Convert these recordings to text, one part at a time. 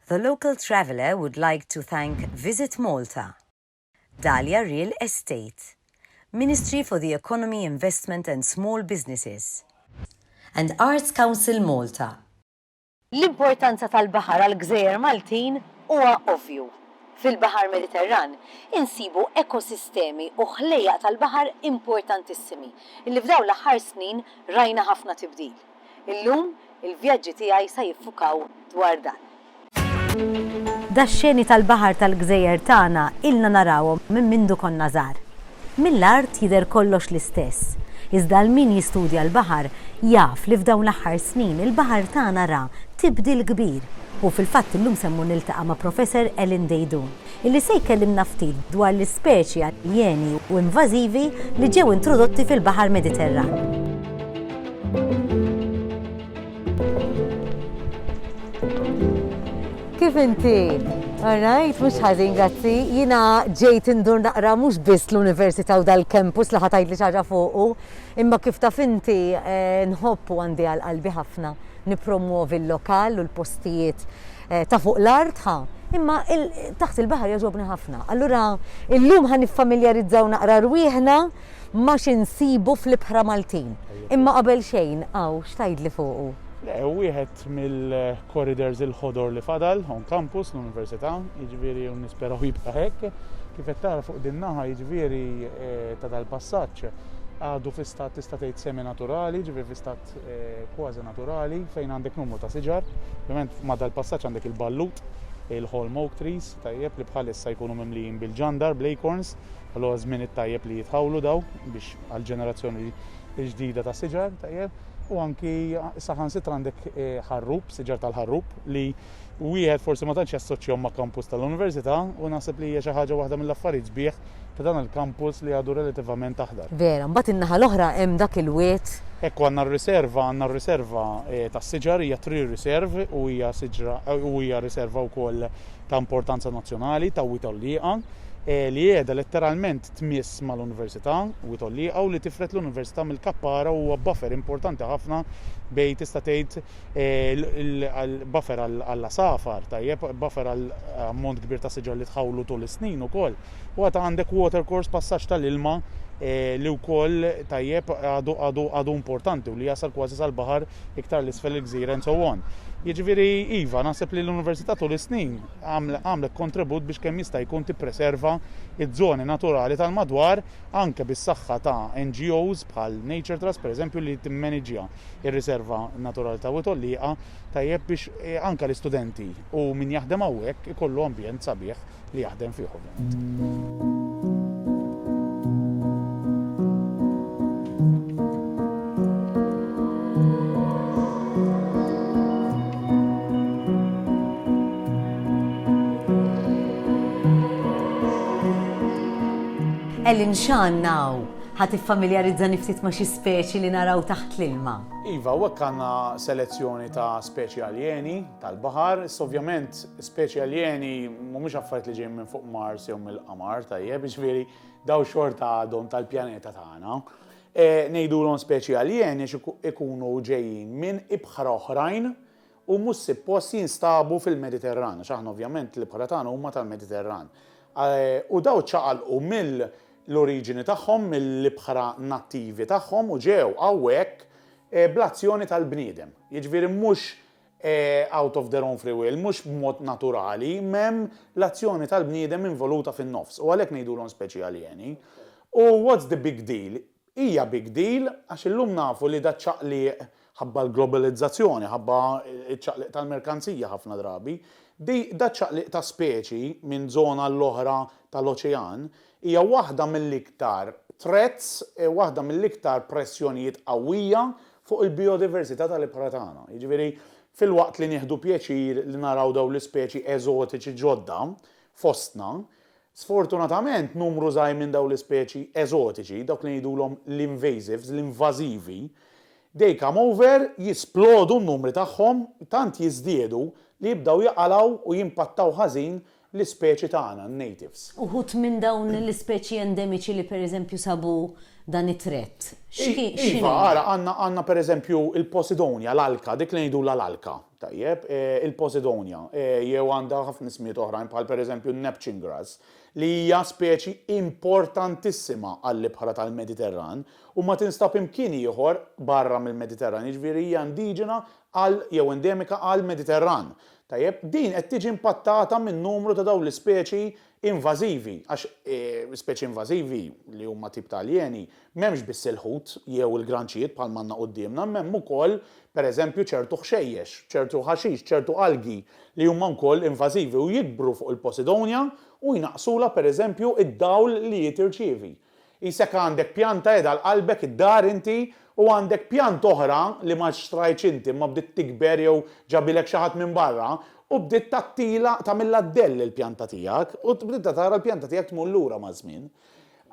The local traveller would like to thank Visit Malta, Dahlia Real Estate, Ministry for the Economy, Investment and Small Businesses, and Arts Council Malta. L-importanza tal-baħar għall-gżejjer Maltin huwa ovvju. Fil-Baħar Mediterran insibu ekosistemi u ħlejjaq tal-baħar importantissimi li f'dawn l-aħħar snin rajna ħafna tibdil. Illum, il-vjaġġi tiegħi sa jiffukaw dwar dan. Dax-xeni tal-baħar tal-gżejjer tagħna ilna narawhom minn mindu konna żgħar. Mill-art jidher kollox l-istess, iżda għal min jistudja l-baħar jaf li f'dawn l-aħħar snin il-baħar tagħna ra tibdil kbir u fil-fatt illum se mmur niltaqa' ma' Professor Ellen Deidun. li se jkellimna ftit dwar l-ispeċi aljeni u invażivi li ġew introdotti fil-Baħar Mediterran. Kif inti? All right, mhux ħażin, grazzi. Jiena ġejt indur naqra mhux biss l-Università u dal-campus li ħa tgħidli xi ħaġa fuqu, imma kif taf inti eh, nħobb u għandi għal qalbi ħafna nippromwovi l-lokal u l-postijiet eh, ta' fuq l-art ħa. Imma taħt il-baħar jogħġobni ħafna. Allura illum ħan niffamiljarizzaw naqra rwieħna ma xinsibu fl-ibħra Maltin. Imma qabel xejn, għaw, xtajdli fuqu? Le, wieħed mill-corridors il-ħodor li fadal on campus l-Università, jiġifieri nisperaw jibqa' hekk, kif qed tara fuq din naħa jiġifieri eh, ta' dal-passaġġ għadu fi stat tista' tgħid semi naturali, ġifieri fi stat kważi naturali fejn għandek numru ta' siġar, ovvjament ma' dal-passaġġ għandek il-ballut, il-holm oak trees, tajjeb li bħalissa jkunu mimlijin bil-ġandar, bl-acorns, allura żmien it-tajjeb li jitħawlu daw biex għall-ġenerazzjoni l-ġdida ta' siġar, tajjeb, u anki saħansitra għandek ħarrub, siġar tal-ħarrub li wieħed forsi ma tantx jassoċjahom ma' kampus tal-università u naħseb li hija xi ħaġa waħda mill-affarijiet sbieħ ta' dan il-kampus li għadu relativament aħdar. Vera, mbagħad in-naħa l-oħra hemm dak il-wied. Hekk u għandna r-riserva, għandna r-riserva tas-siġar, hija tree reserve u hija siġra u hija riserva wkoll ta' importanza nazzjonali ta' wied għollieqa li qiegħda letteralment tmiss mal-università, wied għollieqa u li tifred l-università mill-kappara u huwa buffer importanti ħafna bejn tista' tgħid buffer għall-għasafar, tajjeb, buffer għal ammont kbir ta' siġar li tħawlu tul is-snin ukoll. U għad għandek watercourse passaġġ tal-ilma eh, li wkoll tajjeb għadu għadu għadu importanti u li jasal kważi sal-baħar iktar l-isfel il-gżira and so on. Jiġifieri iva, naħseb li l-Università tul is-snin għamlet kontribut biex kemm jista' jkun tippreserva ż-żoni naturali tal-madwar anke bis-saħħa ta' NGOs bħal Nature Trust pereżempju li timmaniġja ir-Riserva Naturali ta' Wied Għollieqa tajjeb biex anke l-istudenti u min jaħdem hawnhekk ikollu ambjent sabiħ li jaħdem fih ovvjament. Ellen Xan now. Ħa tiffamiljarizzani ftit ma' xi speċi li naraw taħt l-ilma? Iva, hawnhekk għandna selezzjoni ta' speċi aljeni tal-baħar. Issa ovvjament speċi aljeni mhumiex affarijiet li ġejjin minn fuq Mars jew mill-Qamar, tajjeb, jiġifieri dawn xorta għadhom tal-pjaneta tagħna. Ngħidulhom speċi aljeni għax ikunu ġejjin minn ibħra oħrajn u mhux sippost jinstabu fil-Mediterran, għax aħna ovvjament l-ibħra tagħna huma tal-Mediterran, u dawn ċaqalqu mill-oriġini tagħhom, mill-ibħra nattivi tagħhom u ġew hawnhekk bl-azzjoni tal-bniedem. Jiġifieri mhux out of their own free will, mhux b'mod naturali, m'hemm l-azzjoni tal-bniedem involuta fin-nofs u għalhekk ngħidulhom speċi aljeni. U what's the big deal? Hija big deal għax illum nafu li daċ-ċaqliq, ħabba l-globalizzazzjoni, ħabba ċ-ċaqliq tal-merkanzija ħafna drabi, di daċ-ċaqliq ta' speċi minn żona għall-oħra tal-oċean, hija waħda mill-iktar threats, waħda mill-iktar pressjonijiet qawwija fuq il-bijodiversità tal-ibħra tagħna. Jiġifieri, filwaqt li nieħdu pjaċir li naraw dawn l-ispeċi eżotiċi ġodda fostna, Sfortunatament, numru żgħir minn dawn l-ispeċi eżotiċi, dawk li ngħidulhom l-invasives, l-invażivi, they come over, jisplodu n-numri tagħhom, tant jiżdiedu li jibdew jaqalgħu u jimpattaw ħażin l-ispeċi tagħna, n-natives. Uħud minn dawn l-ispeċi endemiċi li pereżempju sabu dan it-threat, x'inhuma? Iva, ara, għandna pereżempju l-posidonia, l-alka, dik li ngħidulha l-alka, Tajjeb, il-Posidonia, jew għandha ħafna ismijiet oħrajn bħal pereżempju n-Neptune grass, li hija speċi importantissima għall-ibħra tal-Mediterran u ma tinstab imkien ieħor barra mill-Mediterran, jiġifieri hija indiġena għal jew endemika għall-Mediterran. Tajjeb, din qed tiġi impattata minn numru ta' dawn l-ispeċi Invażivi, għax speċi invażivi, li huma tip ta' aljeni, m'hemmx biss il-ħut jew il-granċijiet bħalma għandna quddiemna, imma hemm ukoll, per eżempju, ċertu ħxejjex, ċertu ħaxix, ċertu algi li huma wkoll invażivi u jikbru fuq il-Posidonia u jnaqqsulha, per eżempju, id-dawl li hi tirċievi. Qisek għandek pjanta qiegħda għal qalbek id-dar inti u għandek pjanta oħra li ma xtrajtx inti imma bdiet tikber jew ġabilek xi ħadd minn barra u bdiet tagħtilha tagħmilha dell il-pjanta tiegħek u bdiet tara l-pjanta tiegħek tmur lura maż-żmien.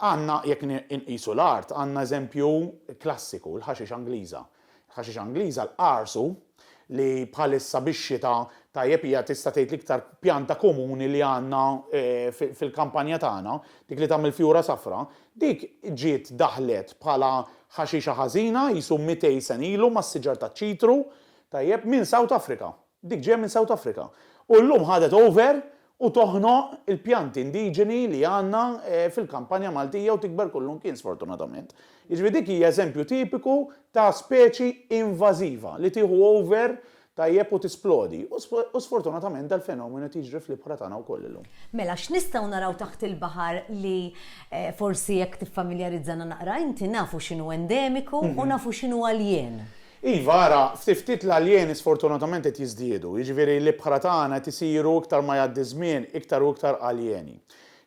Għandna jekk inqisu l-art għandna eżempju klassiku l-ħaxix Angliża. Ħaxix Angliża, l-qarsu, li bħalissa bix-xita tajjeb hija tista' tgħid l-iktar pjanta komuni li għandna fil-kampanja tagħna, dik li tagħmel fjura safra, dik ġiet daħlet bħala ħaxixa ħażina qisu mitej sen ilu mas-siġar taċ-ċitru, tajjeb, minn South Africa. Dik ġejja minn South Africa. U llum ħadet over u toħnoq il-pjanti indiġeni li għandna fil-kampanja Maltija u tikber kullu mkien sfortunatament. Jiġifieri dik hija eżempju tipiku ta' speċi invażiva li tieħu over tajjeb u tisplodi. U sfortunatament dal-fenomenu qed jiġri fl-ibħra tagħna wkoll illum. Mela x'nistgħu naraw taħt il-baħar li forsi jekk tiffamiljarizzana naqra inti nafu x'inhu endemiku u nafu x'inhu aljien? Iva, ara, ftit ftit l-aljeni sfortunatament qed jiżdiedu, jiġifieri l-ibħra tagħna qed isiru iktar ma jgħaddi ż-żmien iktar u iktar aljeni.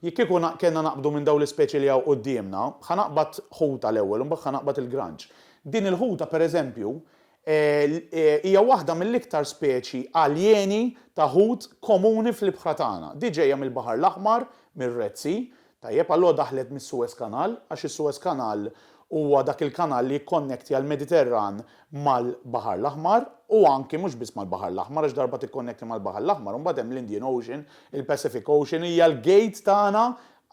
Jekk kieku kellna naqbdu minn dawn l-ispeċi li hawn quddiemna, ħa naqbad ħuta l-ewwel u mbagħad ħa naqbad il-granċ. Din il-ħuta pereżempju hija waħda mill-iktar speċi aljeni ta' ħut komuni fl-ibħra tagħna. Di ġejja mill-Baħar l-Aħmar, mir-Red Sea, Tajjeb, allura daħlet mis-Suez Canal, għax is-Suez Canal huwa dak il-kanal li jikkonnektja l-Mediterran mal-Baħar l-Aħmar, u anki mhux biss mal-Baħar l-Aħmar, għax darba tikkonnektja mal-Baħar l-Aħmar, imbagħad hemm l-Indian Ocean, il-Pacific Ocean, hija l-gate tagħna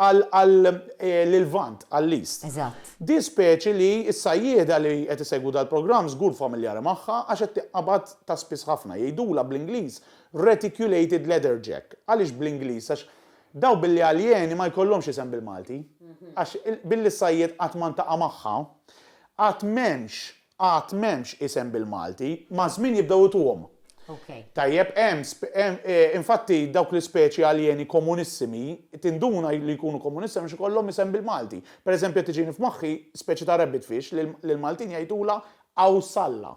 għal għal l-Lvant, għall-East. Eżatt. Din speċi li s-sajjieda li qed isegwu dal-programm żgur familjari magħha għax qed tinqabad ta' spiss ħafna. Jgħidulha bl-Ingliż reticulated leatherjack. Għaliex bl-Ingliż? Għax Dawk billi aljeni ma jkollhomx isem bil-Malti, għax billi s-sajjied qatt ma ntaqa' magħha, għad m'hemmx, għad m'hemmx isem bil-Malti, maż-żmien jibdew ituhom. Tajjeb, hemm, infatti dawk l-ispeċi aljeni komunissimi, tinduna li jkunu komunissimi għax ikollhom isem bil-Malti. Per eżempju qed tiġini f'moħħi speċi ta' rabbitfish li l-Maltin jgħidulha awsalla.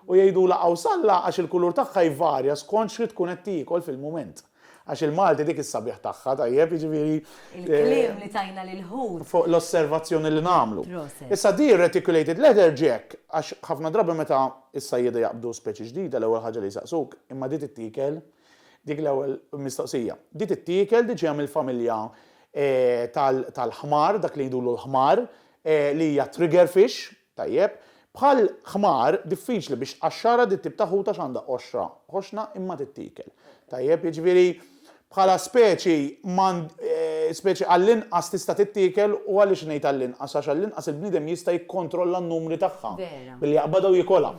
U jgħidulha qawsalla għax il-kulur tagħha jvarja skont x'ħi tkun qed tiekol fil-mument. Għax il-Malti dik is-sabiħ tagħha, tajjeb, jiġifieri. Il-kliem li tajna lill-ħut. Fuq l-osservazzjoni li nagħmlu. Proset. Issa di r-reticulated leather ġie hekk għax ħafna drabi meta s-sajjieda jaqbdu speċi ġdida l-ewwel ħaġa li jsaqsuk, imma di tittiekel? Dik l-ewwel mistoqsija. Di tittiekel? Di ġejja mill-familja tal-ħmar, dak li jgħidulu l-ħmar, li hija trigger fish, Tajjeb, bħal ħmar, diffiċli biex qaxxara di t-tip ta' ħut għax għandha qoxra ħoxna imma tittiekel. Tajjeb, jiġifieri bħala speċi m'għand, speċi għall-inqas tista' tittiekel u għaliex ngħid għall-inqas għax għall-inqas il-bniedem jista' jikkontrolla n-numri tagħha billi jaqbadha u jikolha.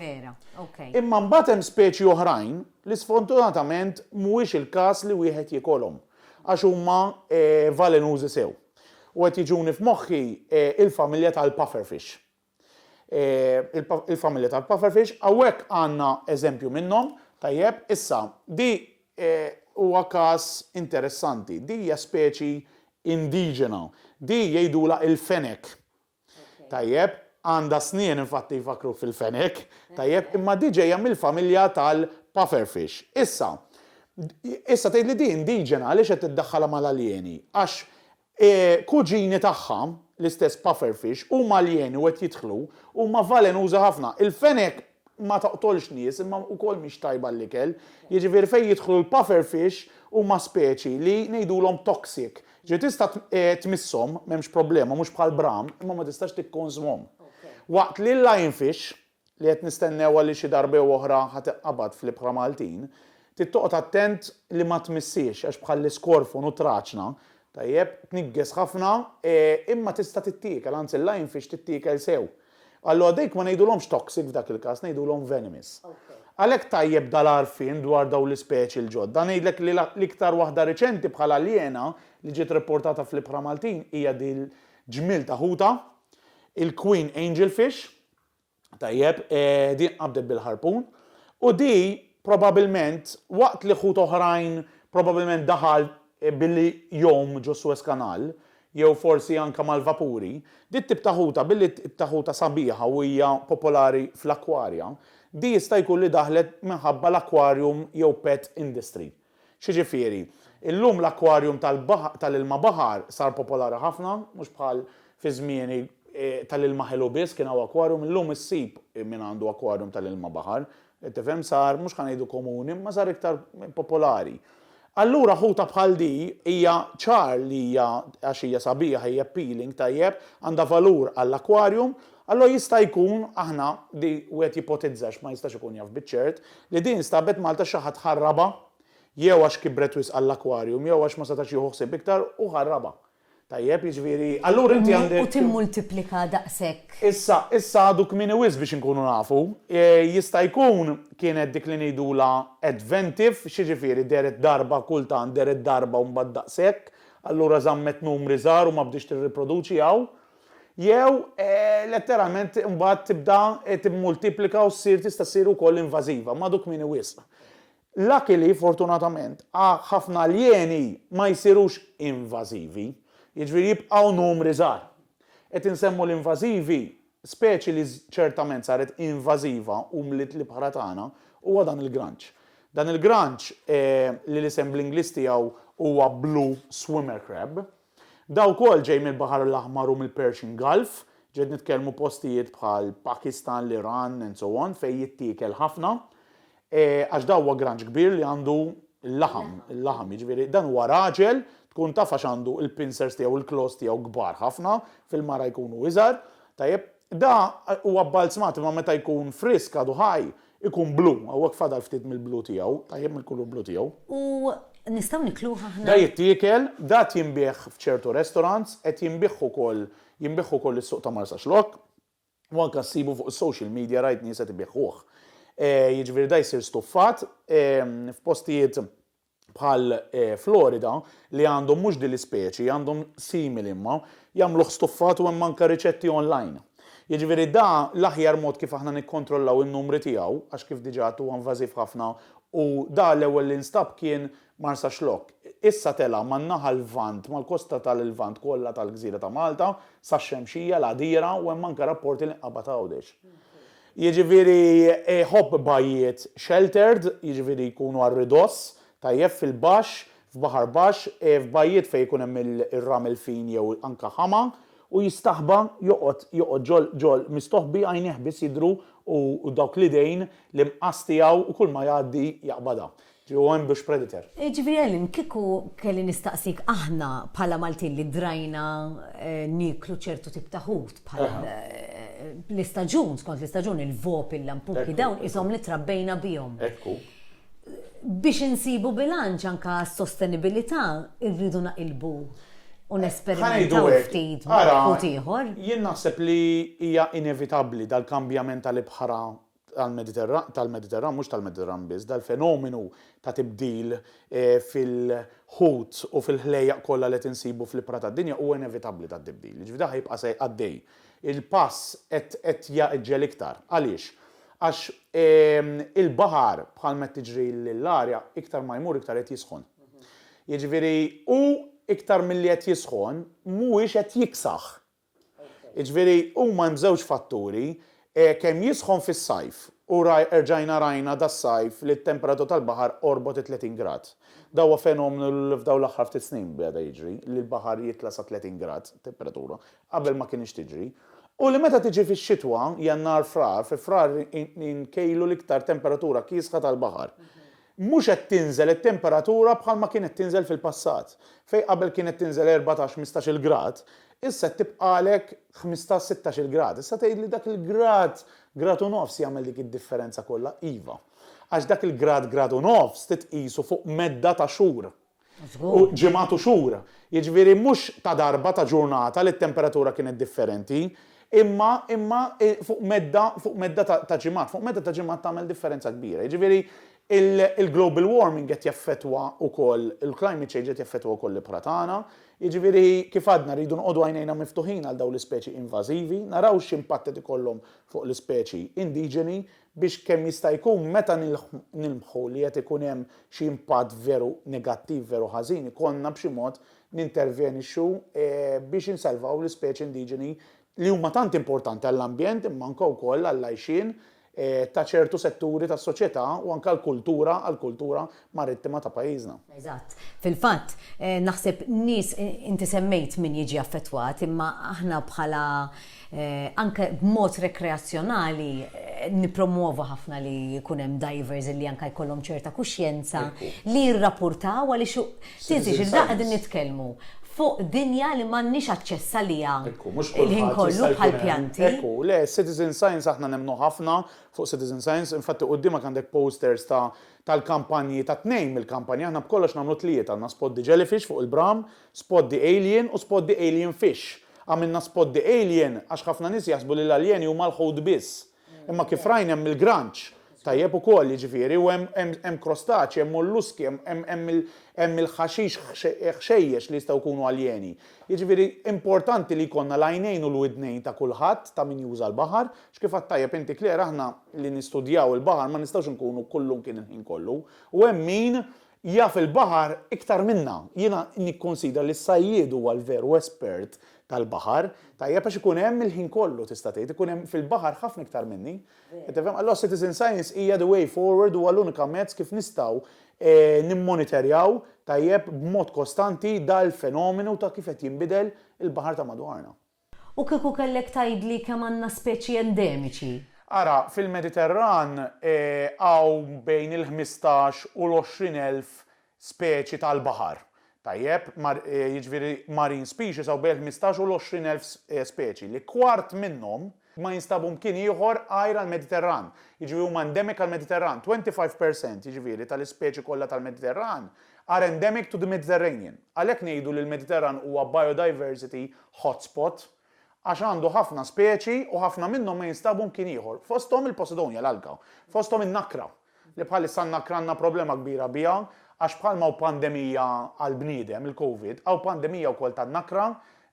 Imma mbagħad hemm speċi oħrajn li sfortunatament mhuwiex il-każ li wieħed jikolhom għax huma valenużi sew. U qed jiġuni f'moħħi il-familja tal-pufferfish. Il-familja tal-pufferfish, hawnhekk għandna eżempju minnhom, tajjeb, issa, di huwa każ interessanti. Di hija speċi indiġena. Di jgħidulha il-fenek. Tajjeb, għandha snien infatti jfakkruk fil-fenek. Tajjeb, imma di ġejja mill-familja tal-pufferfish. Issa, issa tgħidli di indiġena għaliex qed iddaħħalha mal-aljeni? Għax kuġini tagħha, l-istess pufferfish, huma aljeni u qed jidħlu, huma valenużi ħafna. Il-fenek ma toqtolx nies imma wkoll mhix tajba għall-ikel. Jiġifieri fejn jidħlu l-puffer fish huma speċi li ngħidulhom toxic. Ġifieri tista' tmisshom, m'hemmx problema, mhux bħal bram, imma ma tistax tikkonsmhom. Waqt li l-lion fish, li qed nistennewha li xi darba jew oħra ħa tinqabad fl-ibħra Maltin, trid toqgħod attent li ma tmissiex għax bħall-iskorfon u t-traċna, tajjeb, tniggeż ħafna imma tista' tittiekel, anzi l-lion fish tittiekel sew. Allura dejk ma ngħidulhomx toxic f'dak il-każ, ngħidulhom venomous. Għalhekk tajjeb dal-għarfien dwar dawn l-ispeċi l-ġodda. Ngħidlek li l-iktar waħda riċenti bħal aljena li ġiet ripportata fl-ibħra Maltin hija dil-ġmiel ta' ħuta, il-queen angelfish, tajjeb, din tqabdet bil-ħarpun, u di probabilment waqt li ħut oħrajn probabilment daħal billi jgħum ġo Suez Canal, jew forsi anke mal-vapuri, dit-tip ta' ħuta, billi t-tip ta' ħuta sabiħa u hija popolari fl-akkwarja, di jista' jkun li daħlet minħabba l-aquarium jew pet industry. X'jiġifieri, illum l-aquarium tal-ilma baħar sar popolari ħafna, mhux bħal fi żmieni tal-ilma ħelu biss kien hawn aquarium, illum issib min għandu aquarium tal-ilma baħar, Qed tifhem, sar, mhux ħa ngħidu komuni, imma sar iktar popolari. Allura ħuta bħal di hija ċar li hija għax hija sabiħa, hija appealing, tajjeb, għandha valur għall-aquarium, allura jista' jkun aħna di wieħed jipotizza għax ma jistax ikun jaf biċ-ċert, li di instabet Malta xi ħadd ħarrabha jew għax kibret wisq għall-aquarium jew għax ma setax jieħu ħsieb iktar u ħarrabha. Tajjeb, jiġifieri, allura inti għandek. U timmultiplika daqshekk. Issa, issa għadu kmieni wisq biex inkunu nafu. Jista' jkun kienet dik li ngħidulha adventiv, x'jiġifieri dehret darba kultant, dehret darba u mbagħad daqshekk, allura żammet numri żgħar u ma bdietx tirriproduċi hawn. Jew, letteralment, imbagħad tibda timmultiplika u ssir tista' ssir ukoll invażiva, m'għadu kmieni wisq. Lucky li, fortunatament, a ħafna aljeni ma jsirux invażivi, jiġifieri jibqgħu numri żgħar. Qed insemmu l-invażivi, speċi li ċertament saret invażiva u mliet l-ibħra tagħna huwa dan il-granċ. Dan il-granċ, li l-isem bl-Ingliż tiegħu huwa blue swimmer crab, Dawn ukoll ġej mill-Baħar l-Aħmar u mill-Persian Gulf, ġiet nitkellmu postijiet bħal Pakistan, l-Iran and so on fejn jittiekel ħafna għax da huwa granġ kbir li għandu l-laħam, il-laħam, jiġifieri dan huwa raġel tkun taf għax għandu l-pincers tiegħu u l-claws tiegħu kbar ħafna, fil-mara jkunu iżgħar. Tajjeb, da huwa bbalzmat imma meta jkun frisk għadu ħaj Ikun blu, hawnhekk fadal ftit mill-blu tiegħu, tajjeb mill-kulur blu tiegħu. U nistgħu nikluh aħna? Da jittiekel, da qed jinbiegħ f'ċertu restaurants, qed jinbiegħ ukoll, jinbiegħ ukoll is-suq ta' Marsaxlokk, u anke ssibu fuq is-social media rajt nies qed ibiegħuh. Jiġifieri da jsir stuffat f'postijiet bħal Florida, li għandhom mhux din l-ispeċi, għandhom simili imma, jagħmluh stuffat u hemm anke riċetti online. Jiġifieri da l-aħjar mod kif aħna nikkontrollaw in-numri tiegħu, għax kif diġà għedt huwa invażiv ħafna u da l-ewwel li nstab kien Marsaxlokk. Issa tela' man-naħa Lvant, mal-kosta tal-Lvant kollha tal-gżira ta' Malta, sax-Xemxija, l-Għadira u hemm anke rapporti li nqabad Għawdex. Jiġifieri jħobb bajjiet sheltered, jiġifieri jkunu għal ridoss, tajjeb fil-baxx, f'baħar baxx, f'bajjiet fejn ikun hemm ir-ramel fin jew anke ħama, u jistaħba joqgħod joqgħod ġol ġol mistoħbi għajnejh biss jidhru u dawk l-idejn l-imqas tiegħu u kulma jgħaddi jaqbadha. Hu hemm biex predator. Jiġifieri Ellen, kieku kelli nistaqsik aħna bħala Maltin li drajna nieklu ċertu tip ta' ħut bħal l-istaġun, skont l-istaġun, il-vopi, l-lampuki, dawn qishom li trabbejna bihom. Biex insibu bilanċ anke għas-sostenibilità rridu naqilbu u nesperimentaw ftit ma' ħut ieħor. Jien naħseb li hija inevitabbli dal-kambjament tal-ibħra tal-Mediterran, mhux tal-Mediterran biss, dal-fenomenu ta' tibdil fil-ħut u fil-ħlejjaq kollha li qed insibu fl-ibħra tad-dinja huwa inevitabbli tat-tibdil. Jiġifieri dan ħa jibqa' se għaddej. Il-pass qed qed jagħġġel iktar. Għaliex? Għax il-baħar bħalma qed tiġri l-arja iktar ma jmur iktar qed jisħon. Jiġifieri hu iktar milli qed jisħon mhuwiex qed jiksaħ. Jiġifieri huma hemm żewġ fatturi, kemm jisħon fis-sajf u rġajna rajna das-sajf li t-temperatura tal-baħar qorbot it-30 grad. Dan huwa fenomenu li f'dawn l-aħħar ftit snin beda jiġri, li l-baħar jitla' sa 30 grad temperatura, qabel ma kinitx tiġri. U li meta tiġi fix-xitwa, Jannar, Frar, fi Frar inkejlu l-iktar temperatura kiesħa tal-baħar. Mhux qed tinżel it-temperatura bħalma kienet tinżel fil-passat, fejn qabel kienet tinżel erbatax, ħmistax-il grad, issa qed tibqagħlek ħmistax, sittax-il grad. Issa tgħid li dak il-grad, grad u nofs jagħmel dik id-differenza kollha. Iva. Għax dak il-grad, grad u nofs titqisu fuq medda ta' xhur. u ġimgħat u xhur. Jiġifieri mhux ta' darba ta' ġurnata li t-temperatura kienet differenti, imma imma fuq medda fuq medda ta' ta' ġimgħat. Fuq medda ta' ġimgħat tagħmel differenza kbira. Jiġifieri il-global warming qed jaffettwa wkoll, il-climate change qed jaffettwa wkoll l-ibħra tagħna. Jiġifieri kif għadna rridu noqogħdu għajnejna miftuħin għal dawn l-ispeċi invażivi, naraw x'impatt qed ikollhom fuq l-ispeċi indiġeni biex kemm jista' jkun meta nilmħu li qed ikun hemm xi impatt veru negattiv, veru ħażin, ikollna b'xi mod nintervjenixxu biex insalvaw l-ispeċi indiġeni li huma tant importanti għall-ambjent imma anke wkoll għall-għajxien ta' ċertu setturi tas-soċjetà u anke għall-kultura għall-kultura marittima ta' pajjiżna. Eżatt. Fil-fatt, naħseb nies, inti semmejt min jiġi affettwat, imma aħna bħala anke b'mod rekreazzjonali nippromwovu ħafna li jkun hemm divers li anke jkollhom ċerta kuxjenza li jirrapurtaw għaliex tinżilx il-bqgħa qegħdin nitkellmu fuq dinja li m'għandniex aċċess għaliha l-ħin kollu bħal pjanti. Ekku, le, citizen science aħna nemmnu ħafna fuq citizen science, infatti qudiemek għandek posters ta' tal-kampanji ta' tnejn mill-kampanji, aħna b'kollox nagħmlu tlieta, għandna Spot the Jellyfish fuq il-Bram, Spot the Alien u Spot the Alien Fish. Għamilna Spot the Alien għax ħafna nies jaħsbu li l-aljeni huma l-ħut biss. Imma kif rajna hemm il-granċ, tajjeb ukoll, jiġifieri, u hemm hemm hemm krostaċji, hemm molluski, hemm hemm hemm il hemm il-ħaxix ħxejjex li jistgħu jkunu aljeni. Jiġifieri importanti li jkollna l-għajnejn u l-widnejn ta' kulħadd, ta' min juża l-baħar, X'kif għidt tajjeb inti Claire, aħna li nistudjaw il-baħar ma nistgħux inkunu kullumkien il-ħin kollu. U hemm min jaf il-baħar iktar minna. Jiena nikkunsidra li s-sajjied huwa l-veru espert tal-baħar. Tajjeb għax ikun hemm il-ħin kollu tista' tgħid, ikun hemm fil-baħar ħafna iktar minni. Qed tifhem? Allura citizen science hija the way forward, huwa l-unika mezz kif nistgħu nimmonitorjaw tajjeb b'mod kostanti dal-fenomenu ta' kif qed jinbidel il-baħar ta' madwarna. U kieku kellek tgħidli kemm għandna speċi endemiċi? Ara, fil-Mediterran hawn bejn il-ħmistax u l-għoxrin elf speċi tal-baħar. Tajjeb, jiġifieri marine species hawn bejn il-ħmistax u l-għoxrin elf speċi, li kwart minnhom ma jinstabu mkien ieħor għajr għall-Mediterran, jiġifieri huma endemic għall-Mediterran, 25 per cent, jiġifieri, tal-ispeċi kollha tal-Mediterran are endemic to the Mediterranean. Għalhekk ngħidu li l-Mediterran huwa biodiversity hotspot, għax għandu ħafna speċi u ħafna minnhom ma jinstabu mkien ieħor, fosthom il-Posidonia, l-alga, fosthom in-nakra, li bħalissa n-nakra għandna problema kbira biha għax bħalma hawn pandemija għall-bniedem, il-Covid, hawn pandemija wkoll tan-nakra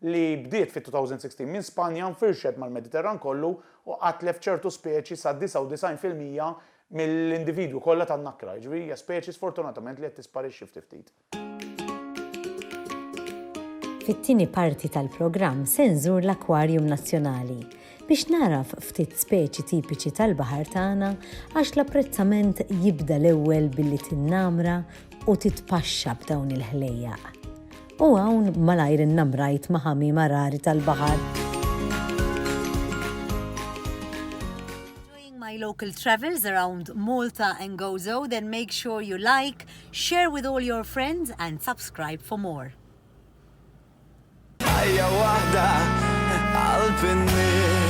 li bdiet fit-2016 minn Spanja nfirxet mal-Mediterran kollu u qatlef ċertu speċi sa 99 fil-mija mill-individwi kollha tan-nakra, jiġifieri hija speċi sfortunatament li qed tisparixxi ftit ftit. Fit-tieni parti tal-programm se nżur l-Akwarjum Nazzjonali biex nagħraf ftit speċi tipiċi tal-baħar tagħna għax l-apprezzament jibda l-ewwel billi tinnamra u titpaxxa b'dawn il-ħlejjaq. U hawn malajr innamrajt ma' ħamiema rari tal-baħar. my local travels around Malta and Gozo, then make sure you like, Share with all your friends and subscribe for more. Ħajja waħda qalb in-nies.